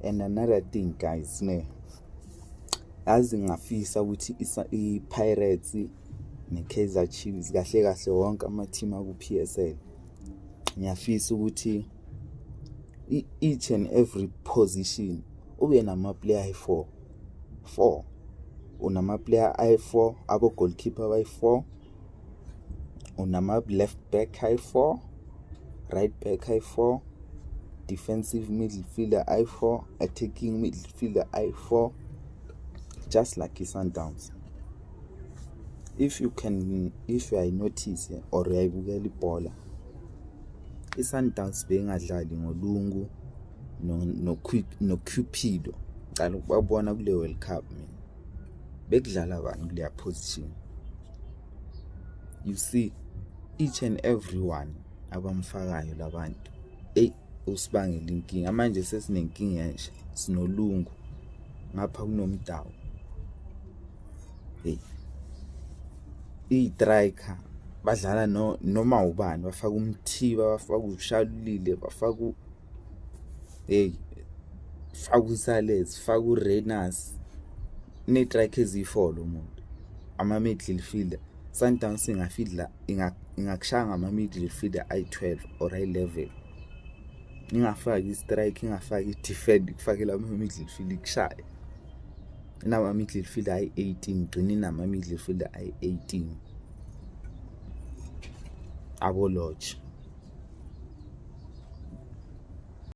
and another thing guys ne yazi ngafisa ukuthi i-pirates ne-kaizer chiefs kahle kahle wonke ama-team aku-p s l ngiyafisa ukuthi each and every position ube nama-player ayi-four four unama-player ayi-four abo-goalkeeper abayi-four unama left back high 4 right back high 4 defensive midfielder high 4 attacking midfielder high 4 just like iSundowns if you can if I notice or uyayibukela ibhola iSundowns bengadlali ngolungu no no Cupido ngicela ukubabona kule World Cup mina bekudlala bani kuleya position you see each and everyone abamfakayo labantu eyi usibangela inkinga manje sesinenkinga nje sinolungu ngapha kunomdawu eyi iyitriker badlala no, noma ubani bafaka umthiba bafaka ushalulile bafaka hey faka usalez faka urenas netrike ezifolo umuntu ama-middle fielder sundowns ingafidla ingakushaya ngama-middle fielder ayi-12 or ayi-11 ingafaki i-strike ingafaki i-defend kufakela ama-middle fielder ikushaya inama-middle fielder ayi-18 gcina inama-middle fielder ayi-18 abolotshi